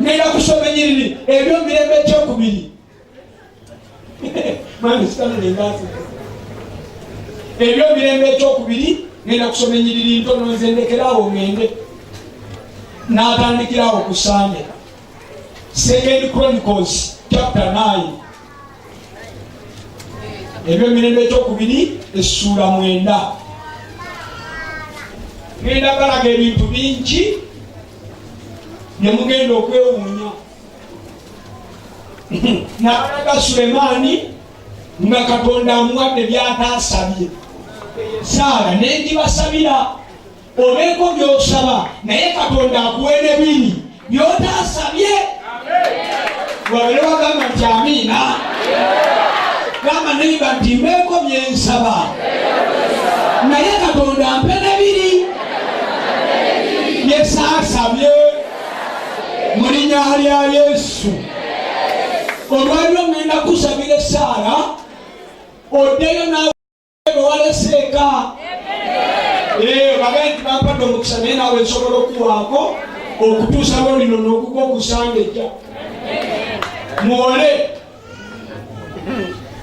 ngenda kusoma enyiriri ebyomirembe ekyokubiri ebyomirembe ekyokubiri ngenda kusoma enyiriri ntono nze ndekerawo ngende natandikirawo ku sande second chronicles chapter 9 ebyomirembe ekyokubiri essuula mwenda ngenda balaga ebintu bingi ne mugenda okwewuunya nabalaga sulemaani nga katonda amuwadde byataasabye saala nengibasabira obeeko byosaba naye katonda akuwe nebiri byotaasabye wabere wagamba nti amiina gamba neiba nti mbeeko byensaba naye katonda mpe nebiri byesaasabye mu linya lya yesu olwaliro ŋenda kusabira esaala oddeyo bwewaleseeka eh, babe nti bampadde omukisa naye nawe nsobola okuwaako okutuusa lwo lino nokuga okusanga ejja muwole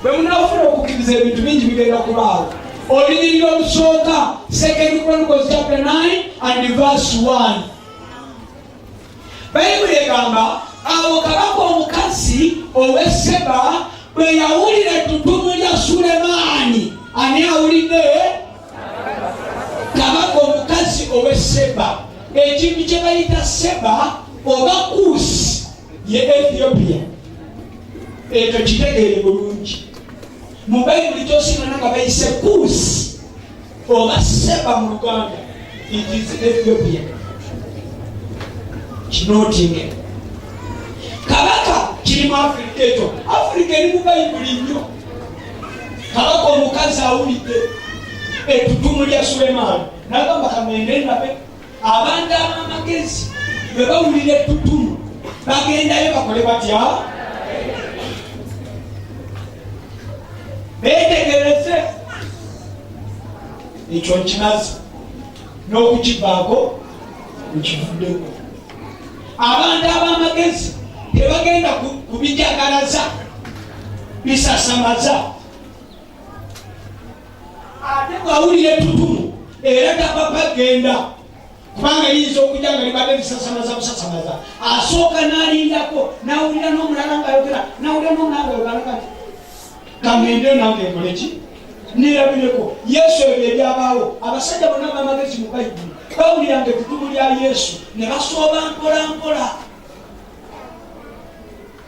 bwe munafuna okukkiriza ebintu bingi bigenda kubaawo olunyiriro olusooka second chronicles chapter 9 and verse 1 bayibuli egamba awo kabaka omukazi oweseba bwe yawulira ettutumu lya sulemaani ani awulidde kabaka omukazi oweseba ekintu kye bayita seba oba kuusi ye ethiopia ekyo kitegeere bulungi mu bayibuli kyosinana nga bayise kuusi oba seba mu luganda it is ethiopia kinotinge kabaka kiri mu afirika ekyo afirika eri mu bayibuli nnyo kabaka omukazi awulidde ettutumu lya sulemaani nagamba kamende nabe abantu ab'amagezi bwe bawulira ettutumu bagendayo bakole batya beetegereze ekyo nkimazi n'okukivaako nkivuddeko abantu ab'amagezi tebagenda kubijagalaza bisasamaza ate bwawulira ettutumu era tapapa genda kubanga yinza okujja nga libadde lisasamaza busasamaza asooka n'alindako nawulira n'omulala ngaayogera nawulira n'omulala ngayogalaka kangende nange nkoleki nirabireko yesu ebyo ebyabaawo abasajja bona bamagezi mu bayibuli bawuliranga ettutumu lya yesu ne basooba mpola mpola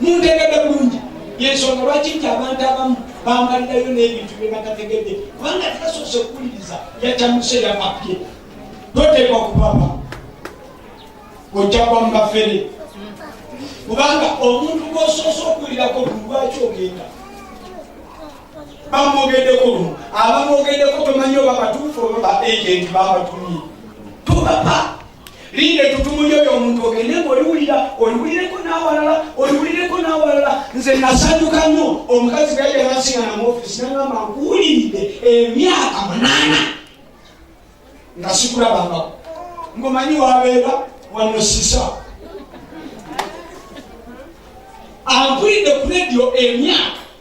muntegedde bulungi yensonga lwaki nti abantu abamu bambalirayo n'ebintu bye batategedde kubanga tebasoose kuwuliriza yacamuse yapapye toteekwa kupapa ojja kwa mubafere kubanga omuntu gwosoose okuwulirako buli lwaki ogenda bamwogeddeko lumu abamwogeddeko tomanyi oba batuufu oba ba agenti babatumye tubapa linda etutumu lyo lyomuntu ogende nga oliwulira oliwulireko n'awalala oliwulireko n'awalala nze nasanyuka nnyo omukazi bweyajja nansingana mu ofisi nagamba nkuwuliridde emyaka munaana nga sikulabangako ngomanyi wabeera wano sisa ampulidde ku redio emyaka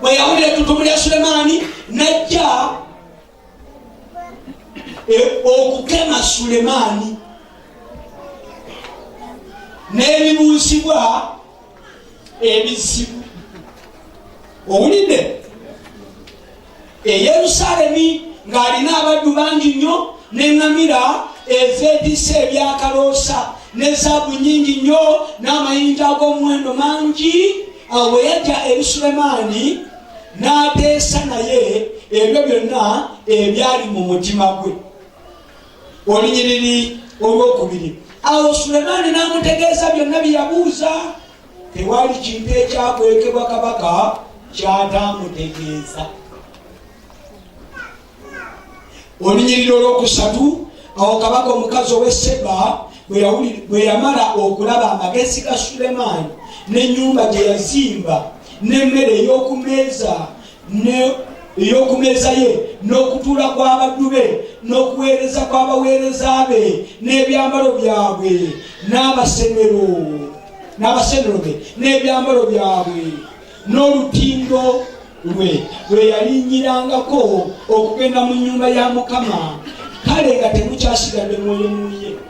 bwe yawulira ettutumu lya sulemaani najja e, okukema sulemaani n'ebibuuzibwa ebizibu owulidde eyerusalemi ng'alina abaddu bangi nnyo neŋŋamira ezeetisa ebyakaloosa ne zaabu nyingi nnyo n'amayinja ag'omuwendo mangi awo bwe yajja eri sulemaani n'ateesa naye ebyo byonna ebyali mu mutima gwe olunyiriri olwokubiri awo sulemaani n'amutegeeza byonna bye yabuuza tewali kintu ekyakwekebwa kabaka kyataamutegeeza olunyiriri olwokusatu awo kabaka omukazi ow'e seba bwe yamala okulaba amagezi ga sulemaani n'ennyumba gye yazimba n'emmere ey'okumeeza ey'okumeeza ye n'okutuula kw'abaddu be n'okuweereza kw'abaweereza be n'ebyambalo byabwe n'abasenero n'abasenero be n'ebyambalo byabwe n'olutindo lwe lwe yalinyirangako okugenda mu nnyumba ya mukama kale nga temukyasigadde mwoyo muye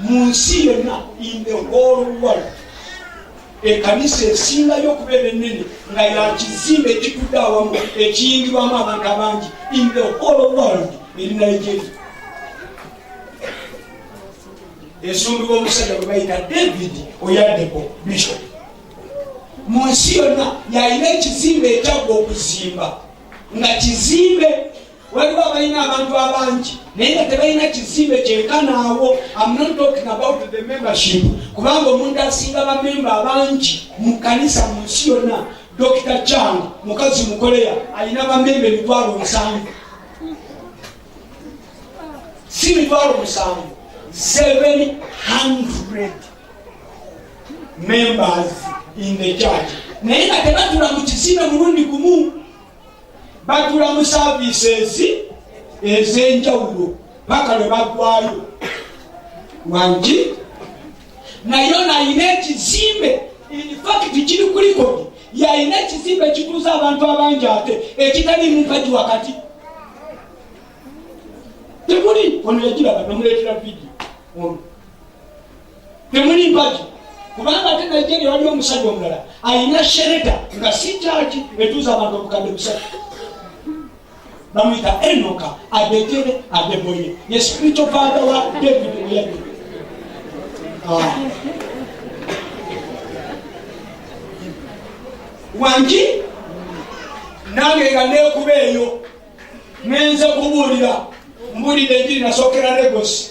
mu nsi yonna in the whole world ekanisa esingayo okubeera ennene nga yakizimba ekitudde awamu ekiyingirwamu abantu abangi in the whole world eri nigeria esumbibwa omusajja gwe bayita david oyadeko bishop mu nsi yonna yalina ekizimba ekyagwa okuzimba nga kizimbe waliwo abalina abantu abangi naye nga tebalina kizimbe kyenkanaawo kubanga omuntu asinga bamemba abangi mu kanisa mu nsi yonna dokita chang mukazi mukoleya alina bamemba emitwalo musanvu si mitwalo musanvu 700 members in the church naye nga tebatula mu kizimbe mulundi gumu batula mu services ez'enjawulo paka lwe bagwayo wangi naye ono alina ekizimbe infakiti kiri ku likodi yalina ekizimbe ekituuza abantu abangi ate ekitali mumpagi wakati temuli ono yagiraba nomuleetera vidiyo ono temuli mpagi kubanga ate nigeria waliwo omusajja omulala alina shereta nga si kyaki etuuza abantu obukadde busatu bamuyita enoka adetere adeboye ye spirito father wa david oyabi ah. wangi nange nga nekuba eyo nenze kubuulira mbuulidde enjiri nasookera legosi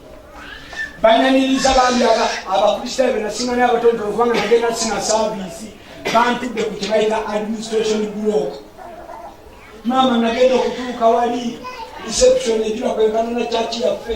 banyaniriza bambi abakristaayo benasinga naye abatonotono kubanga nagenda sina saviisi bantudde ku kyebayita administration block maama nagenda okutuuka wali reception egiba kwenkana na kyaki yaffe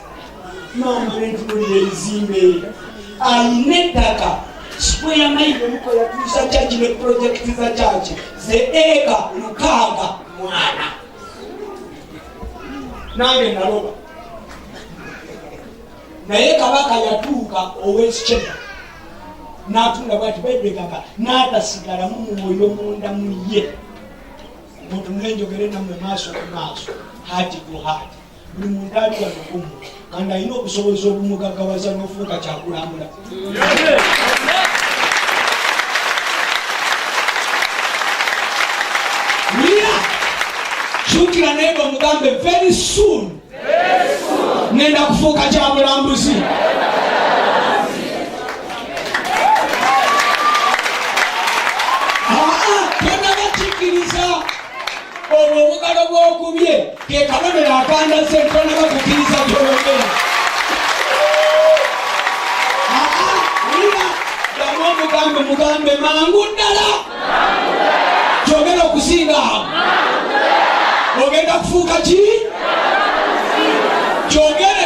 maama netuwulira ebizimbe alina ettaka sikweya mayigo muko yatuusa kyaki ne pulojekiti za kyaki ze eka lukaaga mwana nange naloba naye kabaka yatuuka owesikyeya natunda bwati bebekaka natasigala mu mwoyo munda mu ye mutunenjogere namwe maaso ku maaso hati ku hati buli muntu ali wano kumu kandi alina okusobozesa obumugagawaza n'ofuuka kyakulambula wira kyukira naye nga omugambe very soon ngenda kufuuka kyamulambuzi olwo obugalo bw'okubye ke kabonero akandaze ntonaba kukkiriza byologera damu omugambe mugambe mangu ddala kyogera okusinga awo ogenda kufuuka ki kyogere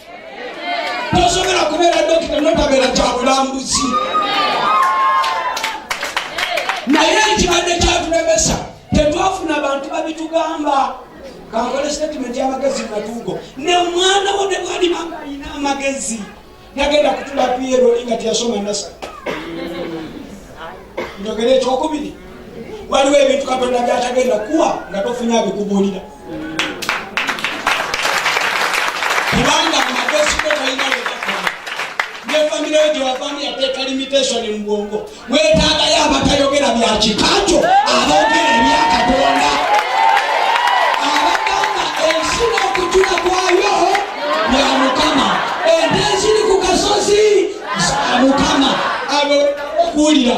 tosobola kubeera dokita notabeera kyabulambuzi naye ekibadde kyatulemesa tetwafuna bantu babitugamba kankole statement yamagezi matugo ne omwana wo ne bwalibanga alina amagezi nagenda kutula pieroli nga teyasoma nasa njogera ekyokubiri waliwo ebintu katonda byatagenda kuwa nga tofunye abikubuulira kubanga mumakosiko kalina wekakoma nefamire yo gyewavamu yateeka limitation mu bwongo wetaagayo abatayogera bya kika kyo aboogera ebya katonda abagamba ensi n'okujula kwayo bya mukama ente eziri ku kasozi za mukama abo okuwulira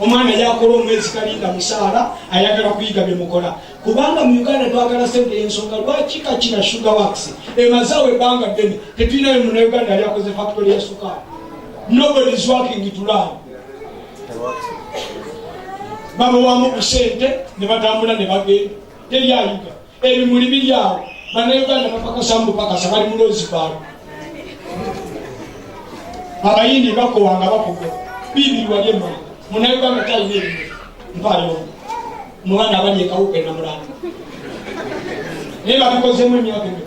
omwana yakola omwezi kalinda musaala ayagala kuyiga byemukola kubanga mu uganda twagala sente ensonga lwaki kakina sugar wax emazawo ebbanga ddene tetulinayo muna uganda yali akoze faktori ya sukaali nobody is working tulaa babawamu ku sente ne batambula ne bagenda teri ayiga ebimuli biri awo banauganda bapakasa mubupakasa bali muloozi baalo abayindi bakowanga bakuga bibiri wali emuli munauganda talina ebimuli mpaayo mubana abali ekawuka enamulanga naye babikozemu emyaka emyo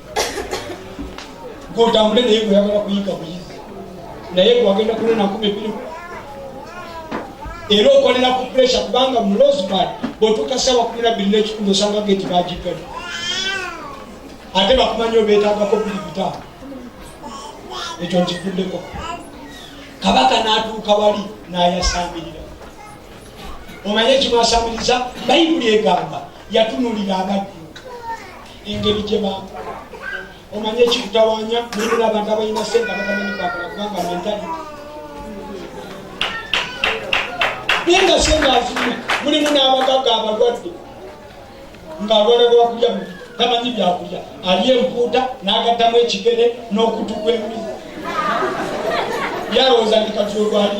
gwotambule naye gweyagala kuyiga buyizi naye gwagenda kunena nkumi biri era okolera ku puresha kubanga mu losbad bwotuuka sawa kumi nabbiri n'ekitundu osanga geti bagiggala ate bakumanyi obeetagako biri bitaano ekyo nkikuddeko kabaka n'atuuka wali n'ayasamirira omanye ekimwasamiriza bayibuli egamba yatunulira abaddu engeri gye baakula omanye ekikutawanya mulina abantu abalina sente abatamanyi kwakula kubanga mentali naye nga sente azirina mulimu n'abagaga abalwadde ng'alwala gwakulya mu tamanyi byakulya alya empuuta n'agattamu ekigere n'okutu kw'embizi yalowooza ndi kati olwali